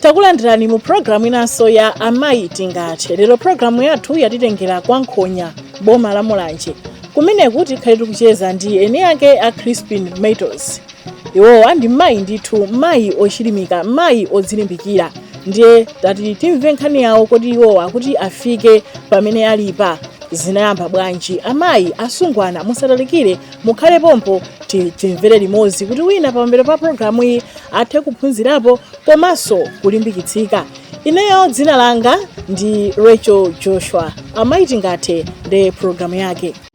takulandirani mu programu inanso ya amayi tingathe lero programu yathu yatitengera kwa nkhonya boma la mulanje kumeneku tikhale tikucheza ndi eni ake a crispin metals iwowa ndi mayi ndithu mayi ochilimika mayi odzilimbikira ndiye tati timve nkhani yawo kuti iwowa kuti afike pamene alipa zinayamba bwanji amayi asungwana musatalikire mukhale pompo ti- timvere limodzi kuti wina pambuyo pa programu iyi athe kuphunzirapo komanso kulimbikitsika ineyo dzina langa ndi rachel joshua amayi tingathe ndi programu yake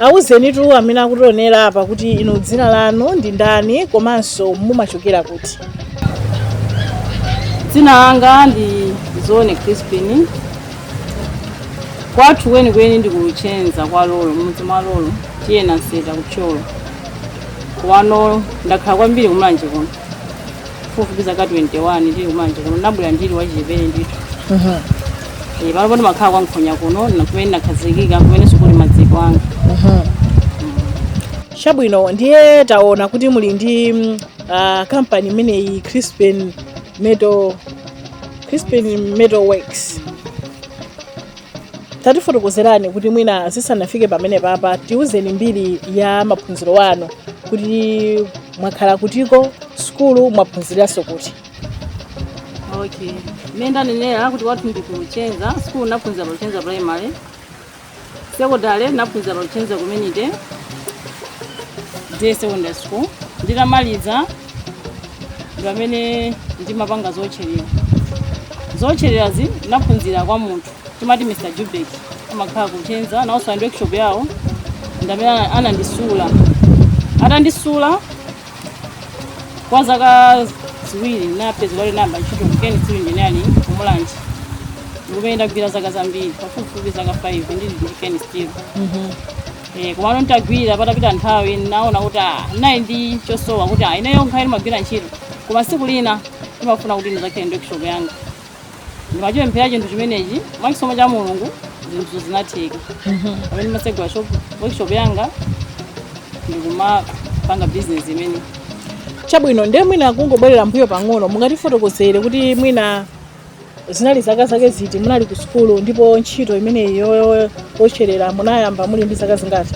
Awuzenitu amene akutionera apa kuti inu dzina lanu ndi ndani komanso mumachokera kuti? Dzina langa ndi Zone Crispin. Kwathu kwenikweni ndi ku Luchenza kwa Lolo, mudzi mwa Lolo, T/A Nanseta ku Thyolo. Komano ndakhala kwambiri ku Mulanje kuno. pafupifupi zaka 21 ndili ku mulanje kuno ndinabwera ndili wachichepere ndithu Eh, panopano ndimakhala kwa nkhonya kuno na kumene ndinakhazikika kumenenso kuli maziko anga chabwino ndiye taona kuti muli ndi mm, ah, kampani imeneyi crispin metal crispin metal works tatifotokozerani kuti mwina zisanafike pamenepapa tiuzeni mbiri ya maphunziro anu kuti Mwakhala kutiko sukulu mwaphunziranso kuti? Okay. Mmene ndanenera kuti kwathu ndi ku Luchenza sukulu naphunzira pa Luchenza primary secondary naphunzira pa Luchenza community day secondary school nditamaliza ndi pamene ndimapanga zotcherera zotchererazi naphunzira kwa munthu timati mr jubek amakhala ku luchenza nawonso ali ndi workshop yawo ndamene ana- anandisula atandisula kwa zaka ziwiri napezeka nayamba ntchito ku keni steel engineering ku mulanje kumene ndagwira zaka zambiri pafupifupi zaka 5 ndili ndi keni steel Eh, komano nditagwira patapita nthawi naona kuti ah, nali ndi chosowa kuti ah, ineyo ngakhale ndimagwira ntchito koma siku lina ndimafuna kuti ndizakhale ndi workshop yanga ndimachipemphera chinthu chimenechi mwa chisomo cha mulungu zinthu zinatheka pamene ndimatsegula shop workshop yanga ndikumapanga bizinesi imene chabwino ndiye mwina kungobwerera mbuyo pang'ono mungatifotokozere kuti mwina zinali zaka zake ziti munali ku sukulu ndipo ntchito imeneyi yo- yotcherera munayamba muli ndi zaka zingati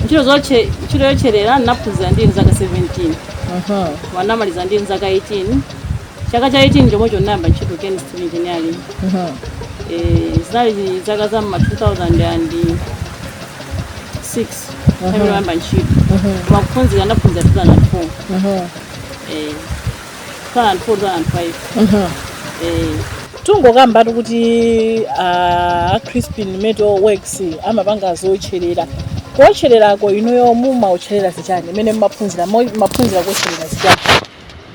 ntchito zotche ntchito yotcherera ndinaphunzira ndili zaka 17 wanamaliza ndili zaka 18 chaka cha 18 chomwecho ndinayamba ntchito Ken Steel Engineering Eh, zinali zaka za mma 2006 nthawi yoyamba ntchito koma kuphunzira ndaphunzira 2004 eh, 2004 2005 eh, tungokambatu kuti a crispin metal works amapanga zootcherera kuotchererako inuyo mumaotcherera zichani imene mumaphunzira mo- mumaphunzira kuotcherera zichani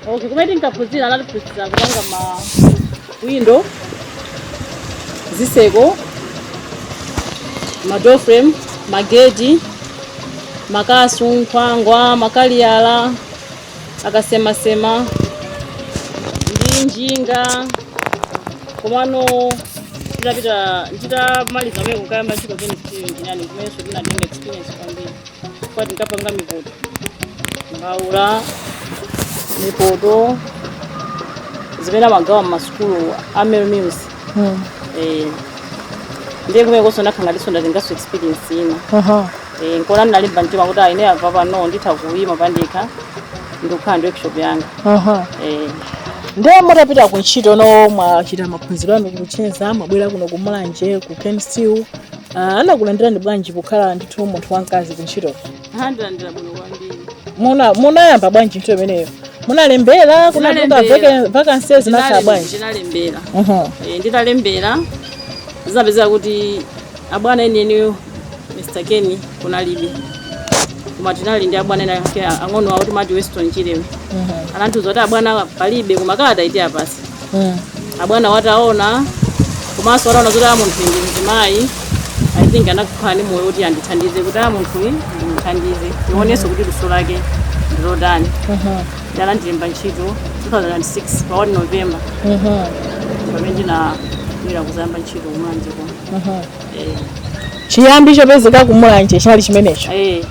Okay, kumene tinkaphunzira anatiphunzira kupanga ma window, ziseko, ma door frame, mageti, makasu, nkhwangwa, makaliyala, akasemasema ndi njinga. Komano nditapita nditamaliza kumene kukayamba ntchito Ken Steel Engineering kumenenso ndinatenga experience kwambiri. kwa tinkapanga mipoto mbaula mipoto zimene amagawa mmasukulu a Mary's Meals Eh, ndiye kumenekonso ndakhala ngatinso ndatenganso experience ina Aha. Eh, nkona ndinalimba mtima kuti aine apa pano nditha kuyima pandekha ndikukhala ndi workshop yanga Aha. Eh, ndiye mutapita ku ntchito no mwachita maphunziro anu ku Luchenza mwabwera kuno ku mulanje ku Ken Steel Ah, anakulandirani bwanji pokhala ndithu munthu wamkazi ku ntchito anandilandira bwino kwambiri Muna- munayamba bwanji ntchito imeneyo munalembera kunatuluka Ndinalembera. vacancy zinakhala Ndinale- bwanji ndinalembera Mhm. Eh, nditalembera zinapezeka kuti abwana enieniyo mr kenny kunalibe koma tinali ndi abwana ena ake ang'ono awo timati weston chilewe anandiuza kuti abwana palibe koma kalatayi tiwapatsa abwanawo ataona komanso ataona kuti a munthuyi ndi mzimayi i think anakhala ndi moyo kuti andithandize kuti a munthuyi ndimuthandize ndionenso kuti luso lake ndilotani nde anandilemba ntchito 2006 pa 1 November pamene ndinabwera kuzayamba ntchito kumulanje kuno Eh, chiyambi chopezeka kumulanje chinali chimenecho eh,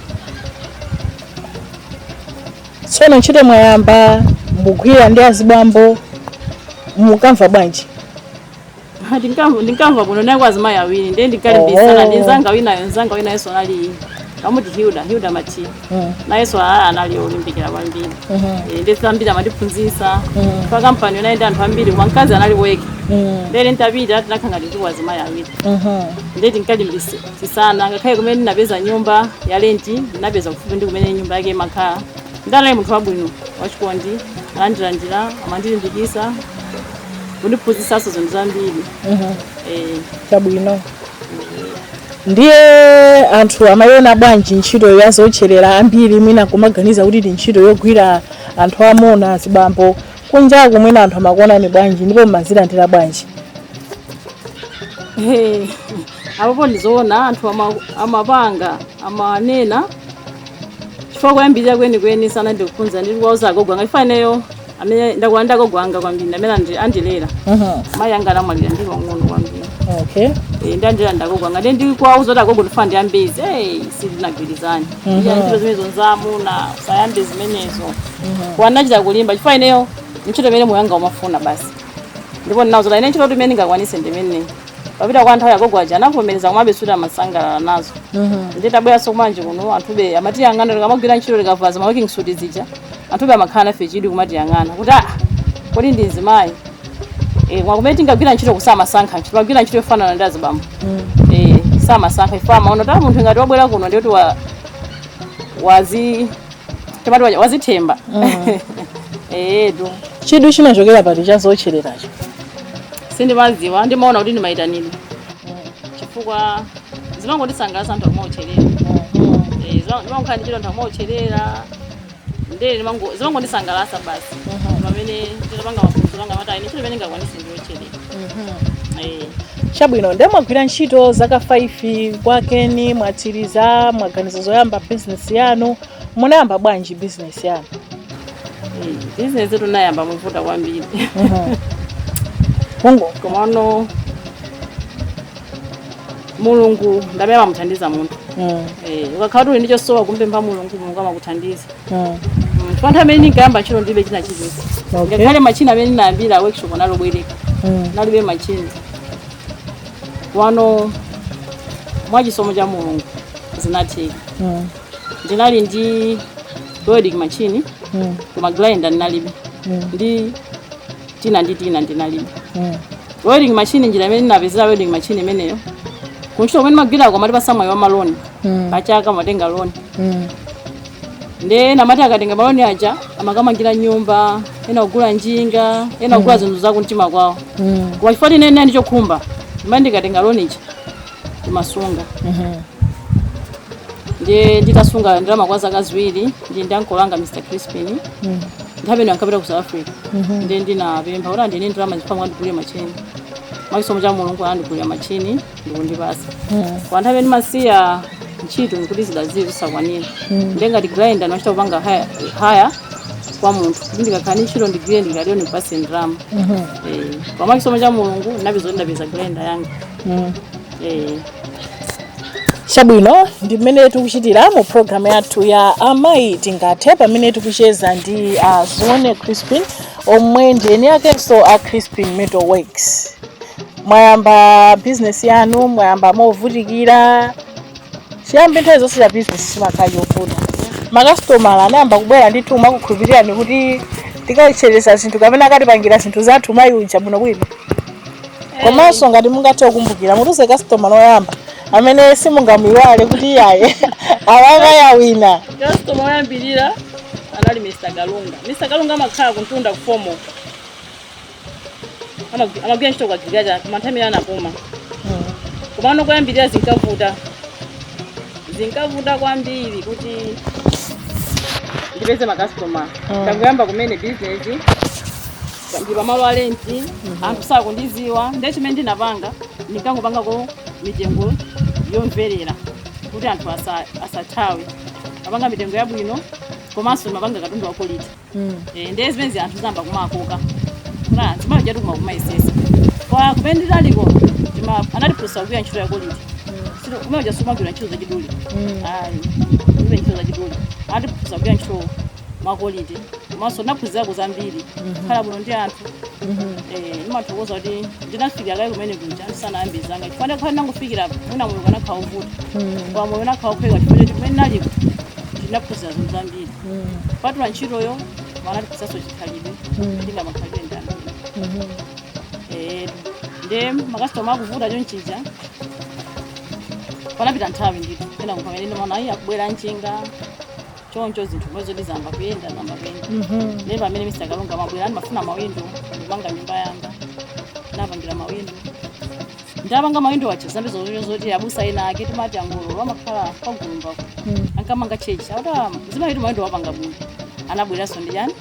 tsono ntchito mwayamba mugwira ndi azibambo mukamva bwanji Ha, ndinkamva ndinkamva bwino tinaliko azimayi awiri ndiye ndinkalimbisana Oh. ndi nzanga winayo nzanga winayonso anali kamuti hilda hilda machira Mm. nayenso a- anali olimbikira kwambiri Eh, ndi zambiri amandiphunzitsa pa kampaniyo inali ndi anthu ambiri koma mkazi anali yekha nde ntapita tinakhangati tiliko azimayi awiri Mhm. ndiye tinkalimbisana chisana ngakhale kumene ndinapeza nyumba ya lenti ndinapeza kufupi ndi kumene nyumba yake imakhala ndinali munthu wabwino wachikondi anandilandira amandilimbikisa kundiphunzisanso zinthu zambiri Eh, chabwino ndiye anthu amayiona bwanji ntchito ya zotcherera ambiri mwina kumaganiza kuti ndi ntchito yogwira anthu amuna azibambo kunjaku mwina anthu amakuonani bwanji ndipo mumazilandira bwanji eh, apopo ndizoona anthu ama, amapanga amanena chifukwa kuyambirira kwenikweni sana ndikuphunza ndili kuwauza agogo anga chifukwa ineyo amene ndakula ndi agogo anga kwambiri amene andi- andilera Aha, mayi anga anamwalira ndili wang'ono kwambiri okay. Eh, andilera ndagogo anga nde ndikuwauza kuti agogo ndifuna ndiyambe izi hey, sitinagwirizane Mhm. iya ntchito zimenezo nzaamuna usayambe zimenezo ndinachita kulimba chifukwa ineyo ntchito imene moyo wanga umafuna basi ndipo ndinauza kuti ine ntchito imene ndingakwanise ndimene patapita kwa nthawi agogo aja anavomereza komabe sikuti amasangalala nazo nditabweranso kumanje kuno anthube amatiyang'ana tikamagwira ntchito tikavala zima working suit zija anthube amakhala nafe chidwi kumatiyang'ana kuti ah kodi ndi mzimayi eh koma kumene tinkagwira ntchitoko samasankha ntchito magwira ntchito yofanana ndi azibambo eh samasankha chifukwa amaona kuti ah, munthu ngati wabwera kuno ndiye kuti wa wazi chapati waja wazithemba eyetu chidwi chinachokera pati cha zotchereracho sindimaziwa ndimaona kuti ndi mayitanidwe chifukwa zimangondisangalatsa anthu akumaotcherera ndimangokhala ndi chidwi anthu akumaotcherera ndee zimangondisangalatsa basi pamene nditapanga maphunziro anga mati ine ntchito imene ngakwanise ndiotcherera Eh. chabwino nde mwagwira ntchito zaka 5 kwa keni mwatsiriza mwaganiza zoyamba bizinesi yanu munayamba bwanji bizinesi yanu bizinesitu nayamba movuta kwambiri komano mulungu ndamene amamuthandiza munthu mm. Eh, ukakhala kuti uli ndi chosowa kumpempha mulungu mulungu amakuthandiza chifukwa nthawi imene ndinkayamba ntchito ndilibe china chilichonse Okay. ngakhale machini amene ndinayambira workshop anali obwereka Mm. nalibe machini komano mwa chisomo cha mulungu zinatheka Mm. ndinali ndi welding machine Mm. koma grinder ndinalibe Mm. ndi tina ndi tina ndinalibe Mm. welding machine njira imene ndinapezera welding machine imeneyo kuntchito kumene magwirako amatipasa mwayi wa maloni Mm. pachaka matenga loni Mm. nde ena amati akatenga maloni aja amakamangira nyumba ena kugula njinga ena kugula zinthu za kumtima kwawo Mm. koma chifukwa tine nali ndi chokhumba ndimati ndikatenga loni ija ndimasunga Mhm. ndiye nditasunga ndalama kwa zaka ziwiri ndili ndi ankolo anga mr crispin Mm. nthawi ino ankapita ku south africa Mhm. ndiye ndinapempha kuti andine ndalama zipamwe andigulire machini mwachisomo cha mulungu andigulira machini ndikundipatsa kwa nthawi imene ndimasiya ntchito nkuti zidazo zisakwanira ndiye ngati grinder ndimachita kupanga haya- haya kwa munthu kuti ndikakhala ndi ntchito ndigwire ndikagwira ndimpatse ndalama Eh, koma mwa chisomo cha mulungu ndinapeza kuti ndapeza grinder yanga Eh, chabwino ndi mmene tikuchitira mu programu yathu ya amayi tingathe pamene tikucheza ndi uh, zione crispin omwe ndi eni akenso a crispin metal works mwayamba business yanu mwayamba movutikira chiyambi nthawi zonse cha business chimakhala chovuta makasitomala anayamba kubwera ndithu nkumakukhulupirirani kuti tikawotcheretsa zinthu kapena akatipangira zinthu zathu mayi uja bwino bwino komanso ngati mungathe kukumbukira mutiuze kasitoma woyamba amene simungamuiwale kuti iyayi awa kaya wina kasitoma oyambirira anali mr galunga mr galunga amakhala kumtunda kufomo Amagu- amagwira ntchito kwa gileadi koma nthawi imene anapuma komano kuyambirira zinkavuta zinkavuta kwambiri kuti ndipeze makastoma Mm. ndangoyamba kumene bizinesi ndi pamalo a lenti anthu sakundidziwa nde chimene ndinapanga ndinkangopangako mitengo yomverera kuti anthu asa- asathawe ndimapanga mitengo yabwino komanso ndimapanga katundu wa kwalite Eh, ndiye zimenezi anthu zinayamba kuwakoka na chimalo chatu kuma kumayesesa kwa kumene tinaliko tima anatiphunzitsa kugwira ntchito ya kwalite sino kumene kuja sumagwira ntchito za chidule ayi kulibe ntchito za chidule anatiphunzitsa kugwira ntchito mwa kwalite komanso naphunzirako zambiri kukhala bwino ndi anthu eh ndimathokoza kuti ndinafikira kaye kumene kuja ndisanayambe zanga chifukwa ndikanakhala ndinangofikira mwina moyo ukanakhala ovuta koma moyo unakhala ophweka chifukwa choti kumene ndinaliko ndinaphunzira zinthu zambiri kupatula ntchitoyo anatiphunzitsanso chikhalidwe tingamakhale bwanji ndi anthu Eh, nde makasitoma akuvuta chonchija panapita nthawi ndithu kena nkupamene ndimaona ayi akubwera nchinga choncho zinthu zomwezo ndizayamba kuyenda zayamba kuyenda nde pamene mr galunga amabwera ndimafuna mawindo ndikumanga nyumba yanga ndawapangira mawindo ndapanga mawindo aja zambiri zocho zoti abusa ena ake timati angololo amakhala pagulumba ankamanga chechi akuti "Ah, mzimayi uyu mawindo wapanga bwino anabweranso ndi chani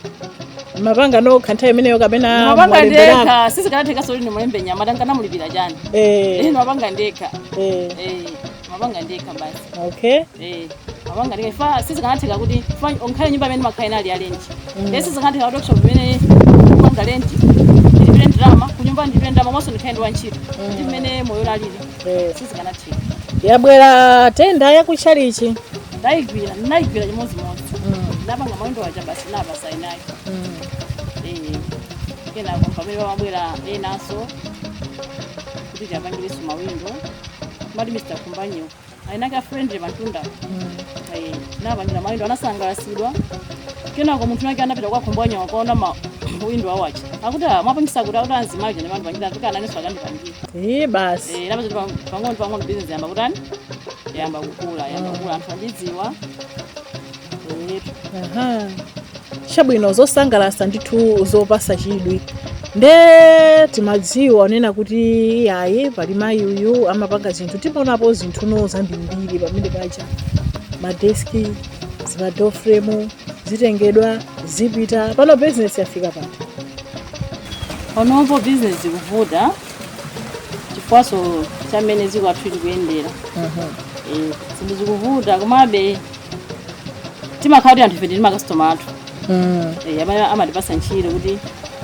mapanga nokha nthawi imeneyo kapena mapanga mwalemberana? ndekha sizikanatheka zoti ndimulembe mnyamata nkanamulipira chani Eh, ino mapanga ndekha eh. Eh, mapanga ndekha basi okay Eh, nimapanga ndekha chifukwa sizikanatheka kuti chifukwa olo nkhale nyumba imene nimakhala inali ya lenti Mm. Eh, sizikanatheka kuti workshop imene ndikupanga lenti ndilipire ndalama kunyumba ndilipire ndalama komanso ndikhale ndi wantchito Mm. ndi mmene moyo unalili Eh, sizikanatheka yabwera tenda yakuchalichi ndayigwira ndinayigwira chimodzimodzi ndapanga mawindo aja basi nawapasa eni ake Eh, kenako pamene pamabwera enanso kuti tiyapangireso mawindo amati mr kumbanyo enaake afriend awo pamtunda Eh, napangira mawindo anasangalasidwa kenako munthu winawake anapita kwa kumbanyo wakaona mawindo aja akuti "Ah, mwapangisa kuti akuti amzimayi ndi amene andipangira kuti nanenso akandipangire Ee, basi Eh, napeza kuti pang- pang'ono pang'ono business yamba kutani yamba kukula yamba kukula anthu akundidziwa Eh, Aha. chabwino zosangalasa ndithu zopasa chidwi nde timadziwa kunena kuti iyayi pali mayi uyu amapanga zinthu timaonapo zinthu zinthu zambirimbiri pamene paja madeski zimadoor frame zitengedwa zipita pano bizinesi yafika pati panopo bizinesi ikuvuta chifukwaso cha mmene dziko lathu likuyendera Eh, zinthu zikuvuta komabe timakhala kuti anthu ife tili ndi makasitoma athu Mm, Eh, amene amatipasa ntchito kuti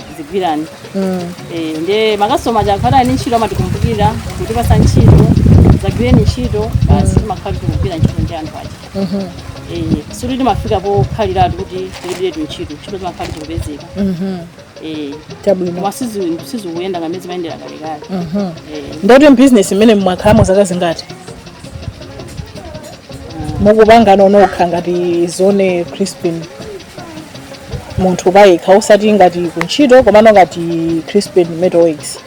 tizigwira mm, Eh, nde makasitoma aja akakhala ni ntchito amatikumbukira kutipasa ntchito zagwireni ntchito basi timakhala tikugwira ntchito ndi anthu aja mhm, Eh, sikuti timafika pokhaliratu kuti tilibiretu ntchito ntchito zimakhala zikupezeka mhm. Eh, chabwino koma sizi- sizikuyenda ngati mmene zimayendera kalekale Eh, nde kuti mbizinesi imene mwakhalamo zaka zingati mukupanga inu nokha ngati zone crispin munthu payekha osati ngati kuntchito komano ngati crispin metal works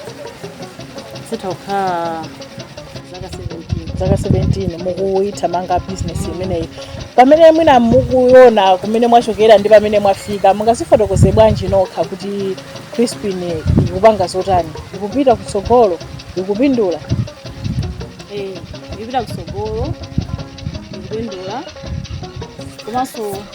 itha kukhala zaka 17 mukuyithamanga bizinesi imeneyi pamene mwina mukuona kumene mwachokera ndi pamene mwafika mungazifotokoze bwanji nokha kuti crispin ikupanga zotani ikupita kutsogolo ikupindula Eh, ikupita kutsogolo ikupindula komanso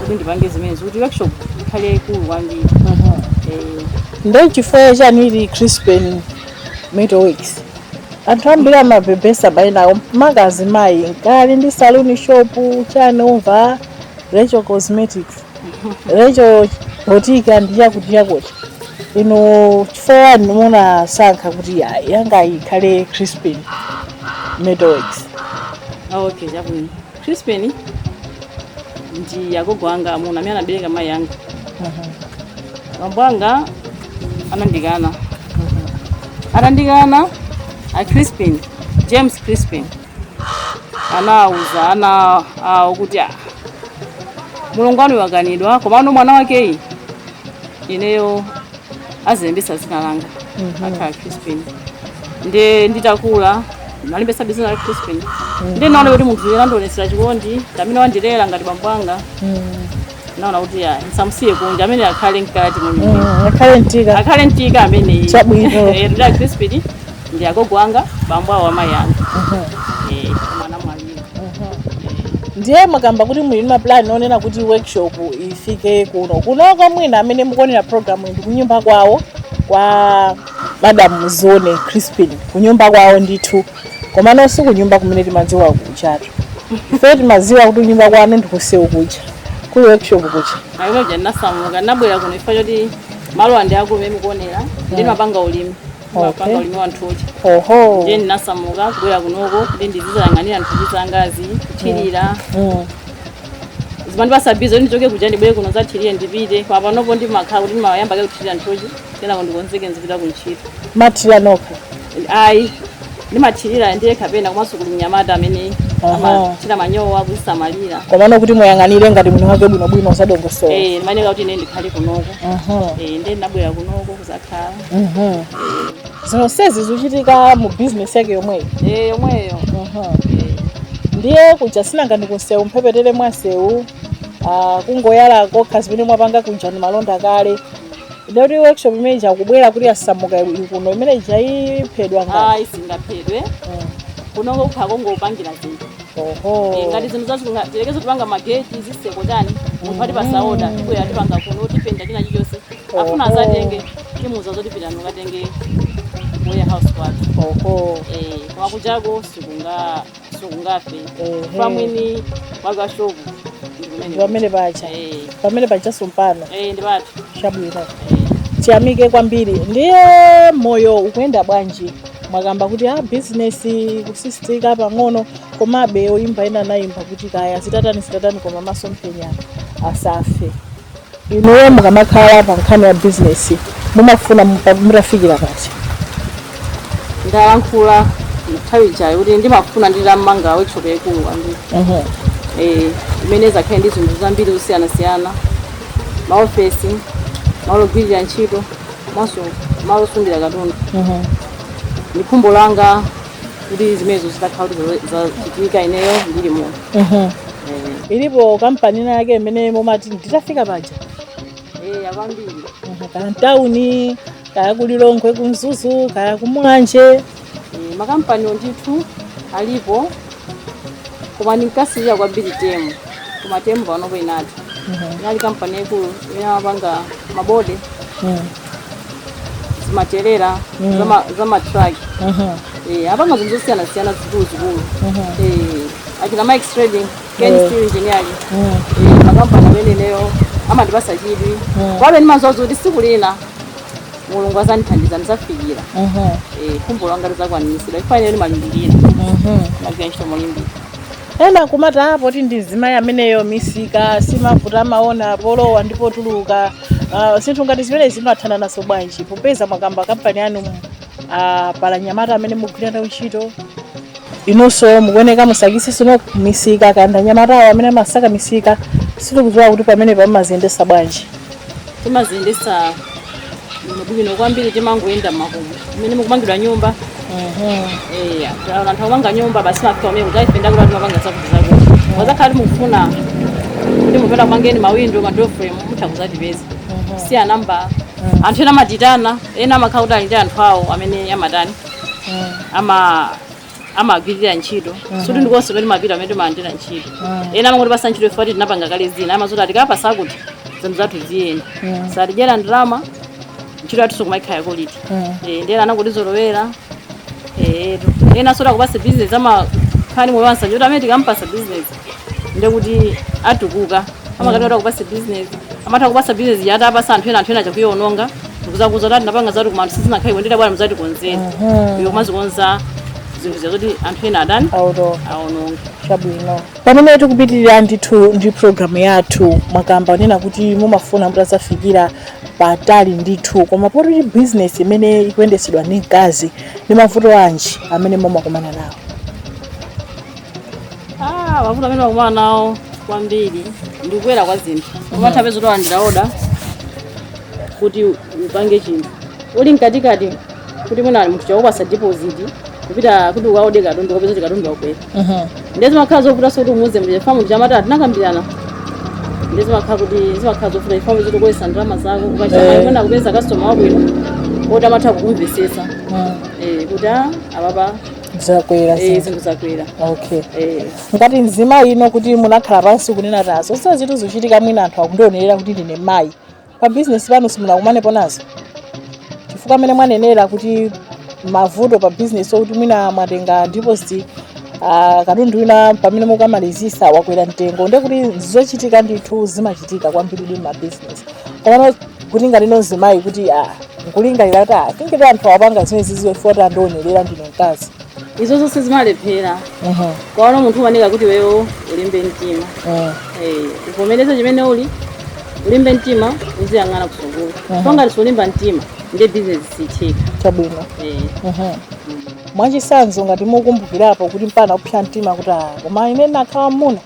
kuti ndipange zimenezi kuti workshop ikhale yaikulu kwambiri Eh, nde chifukwa chani ili crispin metal works anthu ambiri amabebetsa maina awo maka azimayi nkakhala ndi saluni shop chani timamva rachel cosmetics rachel boutique ndi chakuti chakuti inu chifukwa chani munasankha kuti ya- yanga ikhale crispin metal works ah, okay chabwino Crispin ndi agogo anga amuna amene anabereka mayi anga. Bambo anga anandikana. Atandikana a Crispin, James Crispin anauza ana awo kuti "Ah, mlongo wanu wakanidwa komano mwana wakeyu ineyo azilembetsa dzina langa akhale crispin nde nditakula nalembetsabe dzina la crispin nde naona kuti munthu yemwe anandionetsera chikondi ndamene wandilera ngati bambo anga naona kuti ayi ndisamusiye kunja amene akhale mkati mwenimweni Mm, akhale mkati akhale mkati amene Chabwino. Eh, ndi a crispin ndi agogo anga bambo awo amayi anga Eh, mwana mwanu ndiye mwakamba kuti muli ndi mapulani onena kuti workshop ifike kuno kunoko mwina amene mukuonera program ndi kunyumba kwawo kwa madam zone crispin kunyumba kwawo ndithu komano si kunyumba kumene timadziwa kujatu ife timadziwa kuti kunyumba kwanu ndikumsewu kuja kuli workshop kuja ayi kuja ndinasamuka ndinabwera kuno chifukwa choti malo ano akumene mukuonera ndimapanga ulimi mapanga ulimi wa nthochi oho ndiye ndinasamuka kubwera kunoko kuti ndizizayang'anira nthochi zangazi kuthirira Mm. zimandipasa busy ndichoke kuja ndibwere kuno ndizathirire ndipite koma panopo ndimakhala kuti ndimayamba kaye kuthirira nthochi kenako ndikonzeke nzipita ku ntchito mumathirira nokha ayi ndimathirira ndiye kapena komanso kuli mnyamata amene Aha. amathira manyowa kuzisamalira komano kuti muyang'anire ngati mwini wake bwinobwino zadongosolo Eh, ndimayenera kuti ine ndikhale kunoko Mhm. Eh, ndiye ndinabwera kunoko kuzakhala zonsezi zikuchitika mu bizinesi yake yomweyo Eh, yomweyo ndiye kuja sinanga ndikunsewu mphepetere mwa nsewu ah, kungoyala kokha zimene mwapanga kuja ndi malonda kale ndiye kuti workshop imene ija kubwera kuti yasamuka ili kuno imene ija iphedwa ngati ayi singaphedwe kunoko kukhala kongopangira zinthu Oho. Eh, ngati zinthu zazikunga tiyerekeze tipanga mageti zitseko chani munthu atipasa oda tibwera tipanga kuno tipenta china chilichonse afuna Oho. azatenge timuza zoti pitani ukatenge ku warehouse kwathu Oho. Eh, koma kujako sikunga sikungafe Ehe. pamwini wake shopu ndikumene Pamene paja. Eh, Pamene paja sumpano. eh, ndi pathu Chabwino. Eh. Tiyamike kwambiri. Ndiye moyo ukuyenda bwanji? mwakamba kuti business ikuchitika pang'ono komabe oyimba ena anayimba kuti kaya zitatani zitatani koma masomphenya asafe inuyo mukamakhala pa nkhani ya business mumafuna mupa- mutafikira pati ndayankhula nthawi ijayo kuti ndimafuna nditamanga workshop yaikulu kwambiri Mhm. Eh, imene izakhale ndi zinthu zambiri zosiyanasiyana maofesi malo ogwirira ntchito komanso malo osungira katundu ndi khumbo langa kuti zimenezo zitakhala kuti za- zachitika ineyo ndili muno Eh, ilipo kampani ina yake imene mumati nditafika paja yakwambiri kaya mtawuni kaya kulilongwe kumzuzu kaya kumulanje Eh, makampani ndithu alipo koma ndinkasirira kwambiri temu koma temu panopo inatha inali kampani yaikulu imene amapanga mabode zimatrailer zama- zamatraki Eh, apanga zinthu zosiyanasiyana zikuluzikulu Eh, achina mikes trading kensteel engineering Eh, makampani amene ineyo amandipasa chidwi komabe ndimaziwa kuti siku lina mulungu azandithandiza ndizafikira Eh, khumbo langa lizakwaniritsidwa chifukwa ine ndimalimbikira magwira ntchito molimbika ena kumati a poti ndi mzimayi ameneyo misika simavuta amaona polowa ndi potuluka uh, zinthu ngati zimenezi mumathana nazo bwanji popeza mwakamba kampani yanu uh, pali anyamata amene mugwira nawo ntchito inunso mukuoneka musakisi sino misika kaya ndi anyamatawo amene amasaka misika sitikudziwa kuti pamenepo mumaziyendesa bwanji timaziyendesa bwino kwambiri timangoyenda makomo mmene mukumangidwa nyumba eya taona anthu akumanga nyumba basi timafika umene kudzayipenda kuti timapanga zakuti zakuti wazakhala kuti mukufuna kuti mupenda kumangeni mawindo madoframe mutha kuzatipeza siya namba anthu ena amatiitana ena amakhala kuti ali ndi anthu awo amene amatani ama amagwirira ntchito sikuti ndikonse pamene timapita pamene timalandira ntchito ena amangotipasa ntchito chifukwa choti tinapanga kale zina amaziwa zoti akatipasa kuti zinthu zathu ziyenda satidyera ndalama ntchito yathuso imakhala ya koliti Eh, ndi ena anangotizolowera eti enaso oti akupasa bizinesi amakhala ndi moyo wansanje kuti amene tikampasa bizinesi ndekuti atukuka amakati kuti akupasa business amatha kupasa business yoti apasa anthu ena anthu ena achita kuyiononga ndikuzakuuza kuti tinapanga zakuti koma anthu sizinakhale kuendera bwana muzatikonzere iyo kumazikonza zinthu zakuti anthu ena atani aononga chabwino pamene tikupitirira ndithu ndi programu yathu mwakamba zonena kuti mumafuna mutazafikira patali ndithu koma poti bizinesi imene ikuyendesedwa ndi mkazi ndi mavuto anji amene mumakumana nawo Ah, mavuto amene timakumana nawo kwambiri ndi kukwera kwa zinthu umatha kupeza oti walandira oda kuti upange chinthu uli mkatikati kuti mwina munthu wakupasa deposit kupita kuti ukaode katundu ukapeza kuti katundu wakwera ndiye zimakhala zovuta zoti umuuze mlije chifukwa amati tinakambirana ndiye zimakhala kuti zimakhala zovuta ifamu zoti ukoyesa ndalama zako ukachita mwayi mwina kupeza customer wabwino oti amatha kukumvesesa eh, kuti ah, ababa zakwera eh, zinthu zakwera okay eh. ngati mzimayi inu kuti munakhala pansi kunena tazo sio zinthu zochitika mwina anthu akundionerera kuti ndine mayi pa bizinesi pano simunakumanepo nazo chifukwa mmene mwanenera kuti mavuto pa bizinesi okuti mwina mwatenga deposit uh, katundu wina pamene mukamalizisa wakwera mtengo ndiye kuti ndi zochitika ndithu zimachitika kwambiridi m'mabizinesi komano kuti ngati inu mzimayi kuti ah, nkulingalira kuti ah, tingati anthu apanga zimenezi foti andionerera ndine mkazi izo zonse zimalephera Mhm, komano munthu umayeneka kuti iweyo ulimbe mtima mhm, Eh, uvomereze chimene uli ulimbe mtima uziyang'ana kutsogolo Mhm. koma ngati sulimba mtima ndiye bizinesi sitheka chabwino Eh, Mhm. mwachitsanzo ngati mukumbukirapo kuti mpaka kupsa mtima kuti ah, koma ine nkanakhala mmuna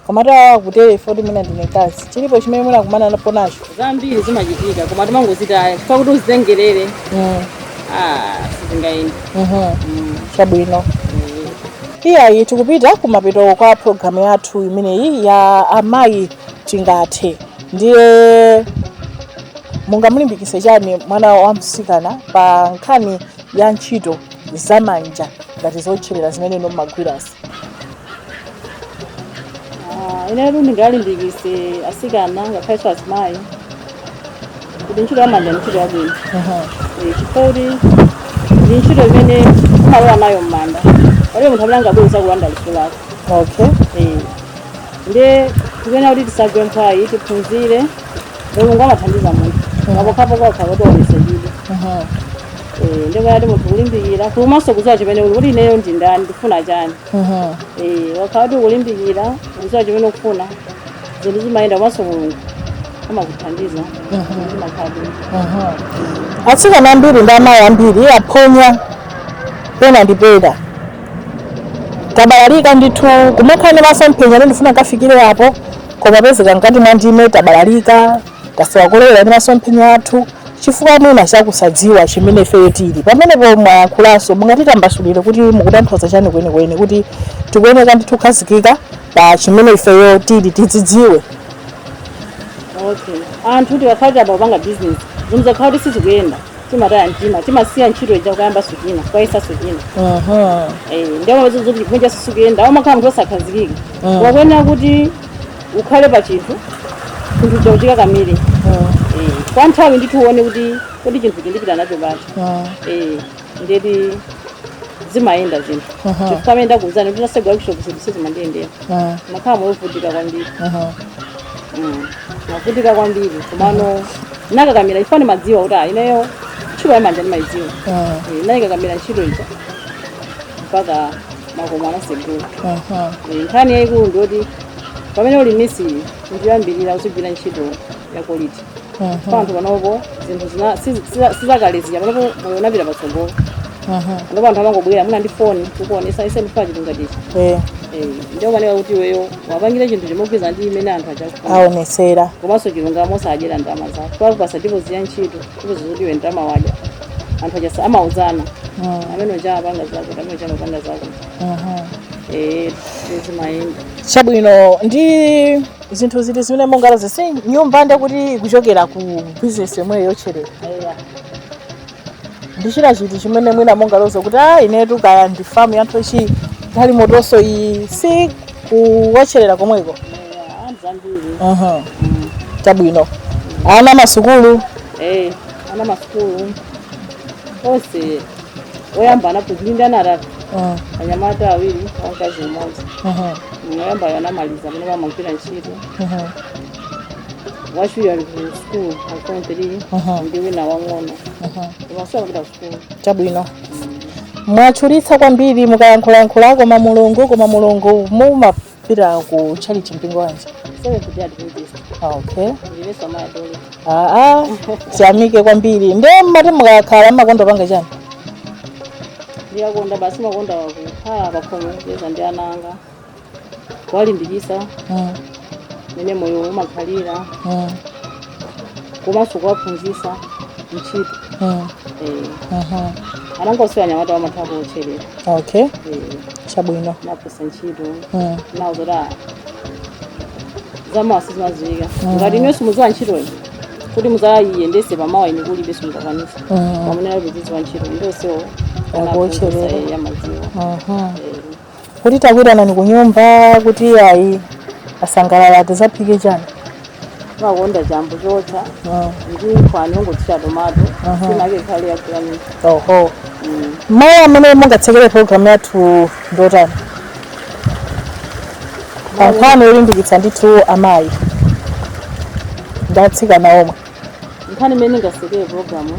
koma awa akutere foti mwina ndine mkazi chilipo chimene munakumanapo nacho zambiri zimachitika koma timangozitaya chifukwa kuti uzitengere Mm, ah, sizingayende mhm. chabwino iyayi tikupita kumapeto kwa programu yathu imeneyi ya amayi tingathe ndiye mungamulimbikitse chani mwana wa mtsikana pa nkhani ya ntchito zamanja ngati zotcherera zimene inu mumagwirazi Ah, inetu ndingalimbikitse atsikana ngakhalenso azimayi kuti ntchito yamanja ndi ntchito yabwino Eh, chifukwa chakuti ndi ntchito imene umalowa nayo m'manda palibe munthu amene angabwere kuzakulanda luso lako okay Eh, ndiye tikuyenera kuti tisagwe mphwayi tiphunzire mulungu amathandiza munthu pokhapokha kuti wayesetsa ndiye kuti munthu kulimbikira komanso kudziwa chimene uli kuti ineyo ndi ndani ndifuna chani Eh, ukakhala kuti ukulimbikira kudziwa chimene ukufuna zinthu zimayenda komanso mulungu amakuthandiza zimakhala bwino atsikana ambiri ndi amayi ambiri aphonya pena ndi pena kubalalika ndithu kumakhala ndi masomphenya kuti ndifuna nkafikire apo kumapezeka mkati mwa ndime tabalalika tasowa kolowera ndi masomphenya athu chifukwa mwina chakusadziwa chimene ifeyo tili pamenepo mwayankhulanso mungatitambasulire kuti mukutanthauza chani kwenikweni kuti tikuyeneka ndithu kukhazikika pa chimene ifeyo tili tidzidziwe okay anthu tikakhala tayamba kupanga business zinthu zikakhala kuti sizikuyenda timataya mtima timasiya ntchito ija kukayambanso china kukayesanso china Aha. Eh, ndiye umapeza zoti zinthu zija sizikuyenda umakhala munthu osakhazikika Mm. ukuyenera kuti ukhale pa chinthu chinthu chija uchikakamire Mm. Eh, kwa nthawi ndithu uone kuti kodi chinthu ichi ndipita nacho pati Mm. Eh, ndiye kuti zimayenda zinthu Aha. chifukwa mmene ndakuuzani kuti natsegula workshop zinthu sizimandiyendera Mm. mmakhala moyo wovutika kwambiri Aha. Mm, navutika kwambiri komano nakakamira chifukwa ndimadziwa kuti ah, ineyo ntchito yamanja ndimayidziwa Ah, Eh, nayikakamira ntchito ija mpaka makomo anasegula aha. Eh, nkhani yayikulu ndiyoti pamene uli misili choyambirira uzigwira ntchito ya quality kwa anthu panopo zinthu zina sizi- siza- sizakale zija panopo moyo unapita patsogolo ndipo anthu amangobwera mwina ndi foni kukuonesa ise tifuna chinthu ngati ichi Eh, Eh, ndiye imafunika kuti iweyo wapangire chinthu chogwirizana ndi chimene anthu aja akufuna aonesera komanso chilungamo osadyera ndalama zake wakupasa deposit ya ntchito deposit zoti iwe ndalama wadya anthu aja amauzana Mm, amene uja apanga zako amene uja amapanga zako mhm. eh zimayenda chabwino ndi zinthu ziti zimene mungaloze si nyumba nde kuti kuchokera ku bizinesi yomweyo yotcherera ndi china chiti chimene mwina mungaloze kuti a inetu kaya ndi famu ya nthochi galimotonso iyi si kuwotcherera komweko Mhm. chabwino ana masukulu Eh, ana masukulu onse woyamba anaphunzira ndili ndi ana atatu Mm. anyamata awiri wamkazi mmodzi Mhm. woyambayo anamaliza amene amagwira ntchito Mhm. wachiwiri ali ku sukulu ali form three Mhm. ndi wina wang'ono Mhm. iyenso akupita sukulu chabwino mwatchulitsa kwambiri mukayankhulayankhula koma mulungu koma mulungu muma- pita ku chalichi mpingo wanji Seventh Day Adventist. Ah, okay Ndilinso amayi a Dorika. aa tiyamike kwambiri nde mmati mukakhala mmakonda kupanga chani Ndimakonda basi makonda kukhala pakhomo kucheza ndi ana anga. Kuwalimbikisa Mm, mmene moyo umakhalira mm, komanso kuwaphunzisa ntchito. mm, Eh, mhm. Ana anga onse anyamata amatha kuotcherera. okay Eh, chabwino naphunzisa ntchito Mm. nawo zoti ah, zamawa sizimaziwika ngati inunso muziwa ntchitoyo kuti muzayiyendese pamawa ine kulibe simuzakwanisa Mm. pamene kuti ziziwa ntchito nde onsewo Akuwotcherera. amaziwa Mhm. kuti takuitanani ku nyumba kuti ayi asangalale tizaphike chani makonda chambo chootcha ndi nkhwani wongothira tomato nsima yake ikhale yakulanisa oho mawu amene mungatsekere programu yathu ndotani pa nkhani yolimbikitsa ndithu amayi ndi atsikana omwe nkhani imene ndingasekere programu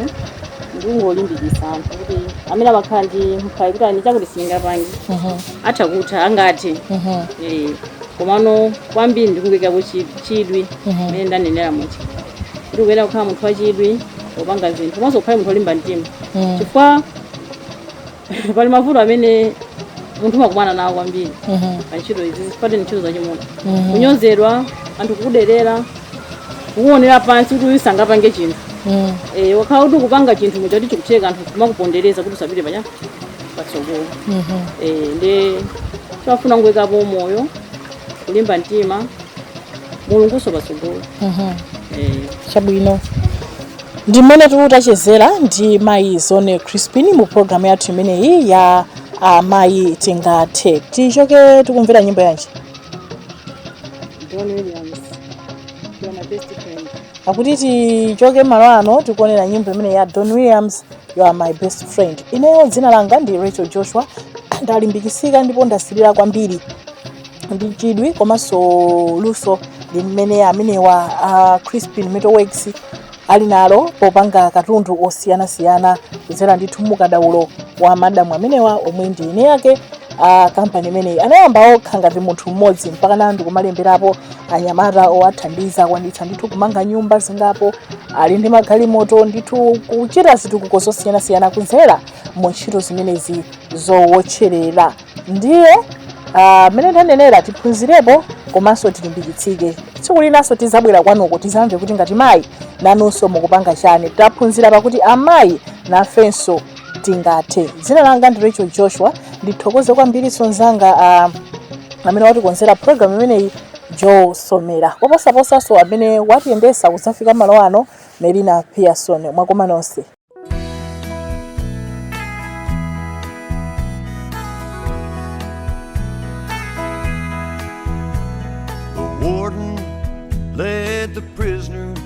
ndingolimbikisa anthu kuti amene amakhala ndi mphwayi kuti a ine chakuti singapange atha kutha angathe Eh, komano kwambiri ndikuyikako chidwi mene ndanenera muja kuti ukuyenera kukhala munthu wachidwi popanga zinthu komanso ukhale munthu olimba mtima chifukwa pali mavuto amene munthu umakumana nawo kwambiri pa ntchito izi zisipate ntchito zachimuna kunyozedwa anthu kukuderera kukuonera pansi kuti uyu sangapange chinthu Eh, ngakhale kuti ukupanga chinthu muja chikutheka anthu kumakupondereza kuti usapite panya patsogolo Eh, nde chimafuna kungoyikapo moyo kulimba mtima mulungunso patsogolo eh. chabwino ndi mmene tatachezera ndi mayi zone crispin mu programu yathu imeneyi ya uh, mayi tingathe tichoke tikumvera nyimbo yanji Don Williams, you are my best friend. akuti tichoke malo ano tikuonera nyimbo imene ya don williams you are my best friend ineyo dzina langa ndi rachel joshua ndalimbikitsika ndipo ndasilira kwambiri ndi chidwi komanso luso limene amenewa a crispin metalworks ali nalo popanga katundu osiyanasiyana kudzera ndithu mukadaulo wa madamu amenewa omwe ndi eni ake a kampani imeneyi anayamba okha ngati munthu mmodzi mpakana ndi kumalemberapo anyamata owathandiza akwanitsa ndithu kumanga nyumba zingapo ali ndi magalimoto ndithu kuchita zitukuko zosiyanasiyana kudzera mu ntchito zimenezi zowotcherera ndiye ah, mmene ndanenera tiphunzirepo komanso tilimbikitsike tsiku linanso tizabwera kwanuko tizamve kuti ngati mayi nanunso mukupanga chani taphunzira pakuti amayi nafenso tingathe. Dzina langa ndi Rachel Joshua. Ndithokoze kwambirinso mnzanga ah, amene watikonzera program imeneyi Joe Somera. Koposaposanso amene watiyendetsa kudzafika malo ano Melina Pearson. Mwakoma nonse. The warden led the prisoner